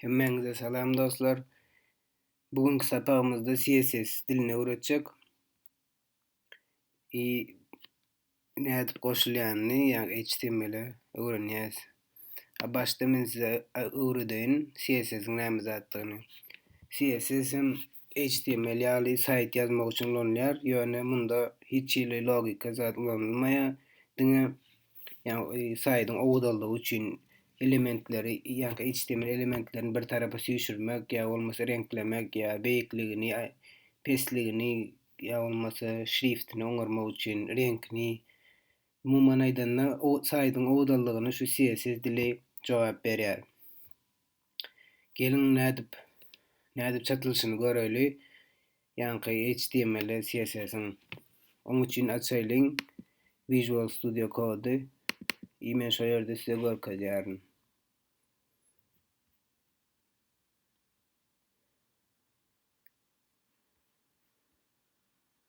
Hemmäňize salam dostlar. Bu günki sapagymyzda CSS dilini öwretjek. I nädip goşulýanyny, ýa HTML-e öwrenýäs. A başda men size öwredeýin CSS-iň näme zatdygyny. CSS hem HTML ýaly saýt ýazmak üçin ulanylýar, ýöne munda hiç hili logika zat ulanylmaýar. Diňe ýa-ni saýdyň owzallygy üçin elementleri, ýa-ni HTML elementlerini bir tarapa süýşürmek ýa bolmasa reňklemek ýa beýikligini, pesligini ýa bolmasa şriftini oňarmak üçin reňkini Umuman aýdanda, saýdyň obadallygyny şu CSS dili jogap berýär. Geliň nädip nädip çatylyşyny göräýli. Ýaňky HTML-e CSS-iň oň üçin açaýlyň Visual Studio Code-y i men şo ýerde size görkezýärin.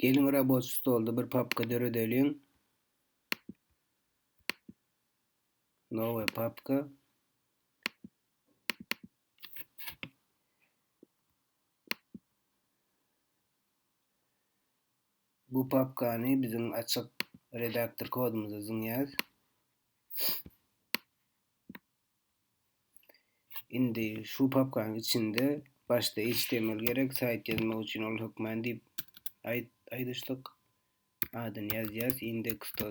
Geliň raboçi stolda bir papka döredeliň. Nowe papka. Bu papkany biziň açyk redaktor kodumyza zyňýas. Indi şu papkanyň içinde başda HTML gerek, saýt ýazmak üçin ol hökman diýip aýt aýdyşdyk. Adyny ýazýas index.html.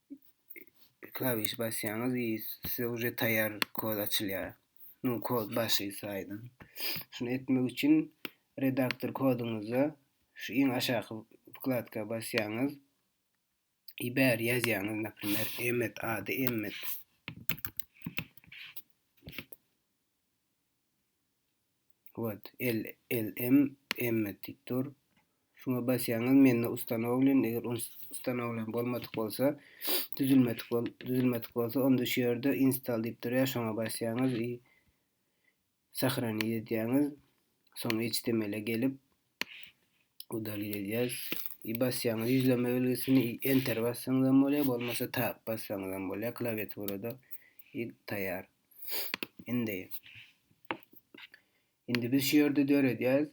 Klawiş basýaňyz i size uje taýýar kod açylýar. Nu kod başy saýdyň. Şunu etmek üçin redaktor koduňyzda şu iň aşaky wkladka basýaňyz. I bär ýazýaňyz, naprimýer, emmet ady emmet. Wot LLM emme diýip dur. Şuňa basýaňyz mende ustanowlen, eger ustanowlen bolmadyk bolsa, düzülmedik bol, düzülmedik bolsa, onda şu ýerde install diýip durýar, şoňa basýaňyz i sahraniýet edýäňiz. Soň HTML-e gelip, Bu dalil edýär. I basýaňyz ýüzlenme belgisini i enter bassaňyz hem bolýar, bolmasa tab bassaňyz hem bolýar klawiaturada. I taýýar. Indi Indi biz şu ýerde döredýäris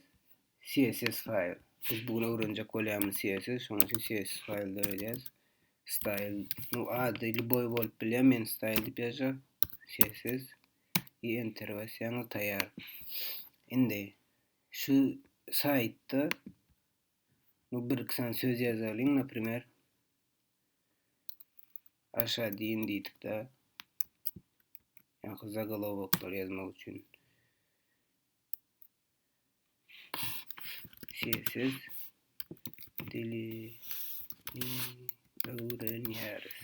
CSS faýl. Biz bu gün öwrenjek bolýarmyz CSS, şonuň üçin CSS faýl döredýäris. Style, nu ady liboý bolup bilýär, men style diýip ýazjak. CSS i enter basýaňyz taýýar. Indi Şu saýtda bu bir iki sany söz ýazalyň, naprimer, aşa diýin diýdik-de. Ýa-ha zagolowoklary ýazmak üçin. Sessiz dili öwrenýäris.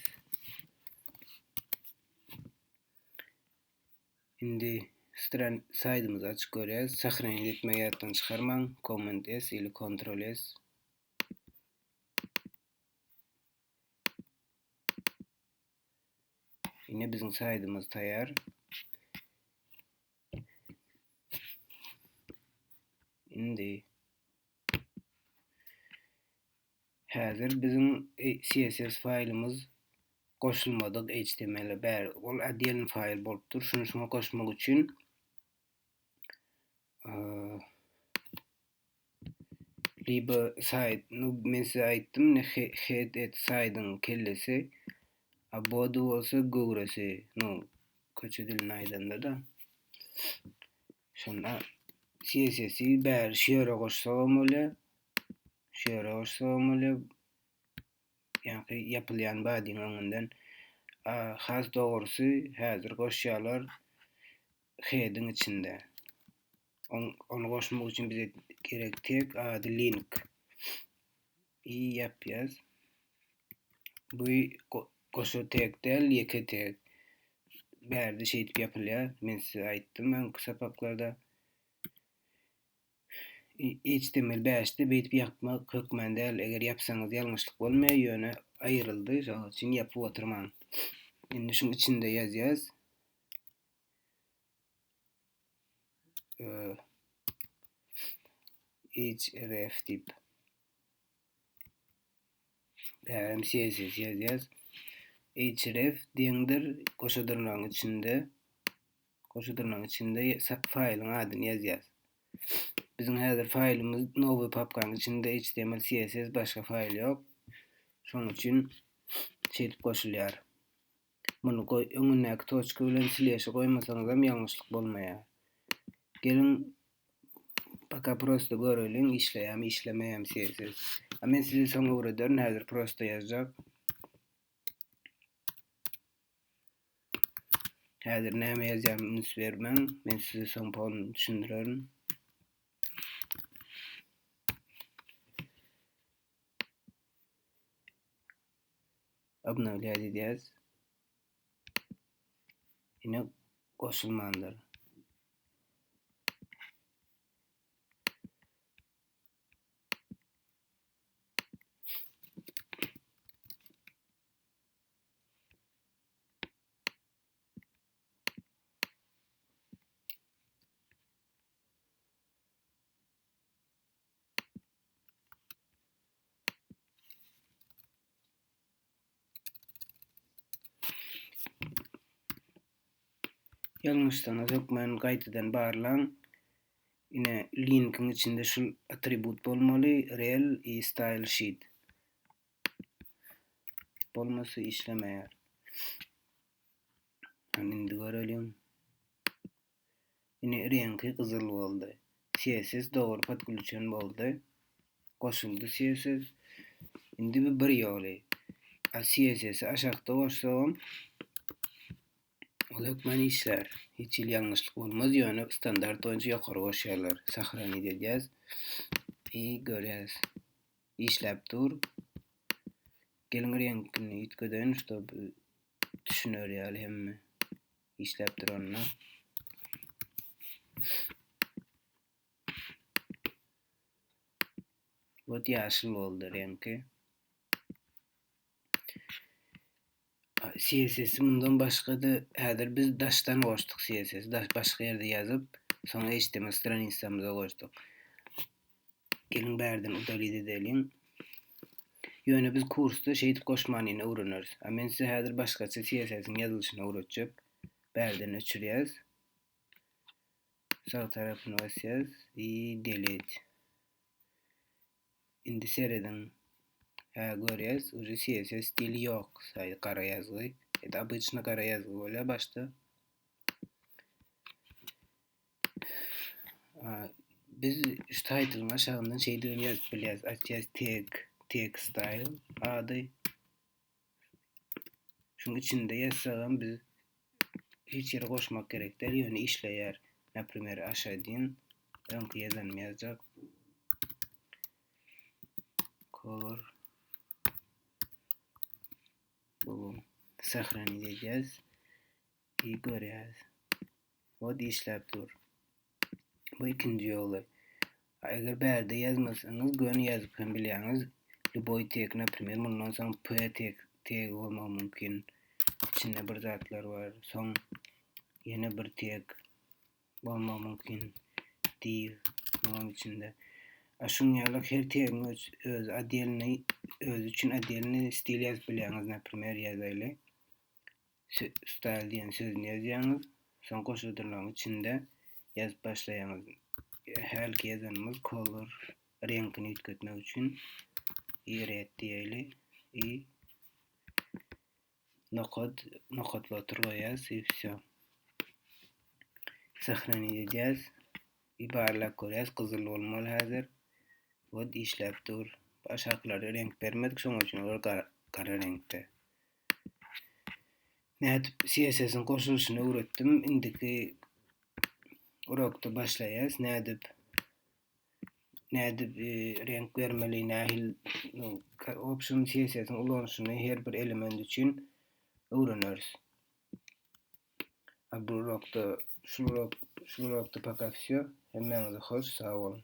Indi stran saýtymyzy açyp görýäs. Sahranit etmegi ýatdan çykarmaň. Command S ili Ctrl S. Ine biziň saýtymyz taýýar. Indi Häzir biziň CSS faýlymyz goşulmadyk HTML-e bäri ol oddelny faýl bolupdyr. Şuny şuňa goşmak üçin libo saýt, nu men size aýtdym, ne head et saýdyň kellesi, a body bolsa göwresi, nu köçe dilinde aýdanda-da. Şonda CSS-i bäri şu ýere goşsak hem bolýar. Şu ýere goşsak hem bolýar. Ýa-da ýapylýan badyň öňünden has dogrusy häzir goşýarlar head-iň içinde. Ony goşmak üçin bize gerek tek ady link. i ýapýas. Bu goşa tek däl, ýeke tek. Bärde şeýdip ýapylýar. Men size aýtdym öňki sapaklarda. HTML 5-de beýdip ýapmak hökman däl. Eger ýapsaňyz ýalňyşlyk bolmaýar, ýöne aýryldy, şonuň üçin ýapyp oturmaň. Indi şuň içinde ýazýas. href diýip bärem css ýazýas href deňdir goşa dyrnagyň içinde goşa dyrnagyň içinde faýlyň adyny ýazýas biziň häzir faýlymyz nowy papkanyň içinde html css başga faýl ýok şonuň üçin şeýdip goşulýar Muny goý, öňündäki toçka bilen sleşi goýmasaňyzam ýalňyşlyk bolmaýar. Geliň, paka prosta göreliň, işleýärmi, işlemeýärmi serisiz. A men size soň öwrederin, häzir prosta ýazjak. Häzir näme ýazýaryny üns bermäň, men size soň polny düşündirerin. Obnowlýa diýýäs. Ine goşulmandyr. Ýalňyşsaňyz hökmany gaýtadan barlaň. Ine linkiň içinde şu atribut bolmaly, rel i style sheet. Bolmasy işlemeýär. Indi görelim. Ine reňki gyzyl boldy. Sessiz dogry podgluçen boldy. Goşuldy sessiz. Indi bu bir ýoly. A sessisi aşakda goşsagam ol hökman işlär. Hiç hili ýalňyşlyk bolmaz ýöne standart boýunça ýokary goşýarlar. Sahranit edýäs. I görýäs. Işläp dur. Geliň reňkini üýtgedeýin ştob düşüner ýaly hemme. işläp duranda Bot ýaşyl boldy reňki. CSS mundan başga-da häzir biz daşdan goşduk CSS, daş başga ýerde ýazyp, soň HTML stranisamyza goşduk. Geliň bärden udalit edeliň. Ýöne biz kursda şeýdip goşmanyny öwreneris. A men size häzir başgaça CSS-iň ýazylyşyny öwretjek. Bärden öçürýäs. Sag tarapyny basýas i delit. Indi serediň. Hä görýäs, uje CSS stili ýok, saý gara ýazgy. Edi obýçny gara ýazgy bolýa başda. Biz şu title'yň aşagyndan şeýdigini ýazyp bilýäris. Atýas tag, tag style ady. Şuň içinde ýazsagam biz hiç ýere goşmak gerek däl, ýöne işleýär. Naprimer, aşaýdyn öňki ýazanymy ýazjak. Color bu sahranit edýäs. Iyi görýäris. O işläp dur. Bu ikinji ýoly. Eger bärde ýazmasaňyz, göni ýazyp hem bilýäňiz. Lüboý tek, naprimer, mundan soň p tek tegi bolmagy mümkin. İçinde bir zatlar bar. Soň ýene bir tek bolmagy mümkin. Div munuň içinde. A şuň ýaly her tegiň öz öz adelni öz üçin adelni stil ýazyp bilýäňiz, naprimer ýazaýly. Style diýen sözüni ýazýaňyz. Soň goşadyrlaryň içinde ýazyp başlaýaňyz. Hälki ýazanymyz color reňkini üýtgetmek üçin i red diýeli i nokat nokatly otur goýýas i wsё. Sahranit edýäs. I barlap görýäs gyzyl bolmaly häzir. Wod işläp dur. Aşakylary reňk bermedik şoň üçin olar gara reňkde. Nädip CSS-iň goşulyşyny öwretdim. Indiki urokda başlaýas. Nädip nädip e, renk bermeli, nähil option CSS-iň ulanyşyny her bir element üçin öwreneris. Bu urokda şu urok şu urokda poka всё. Hemmäňize hoş, sag bolun.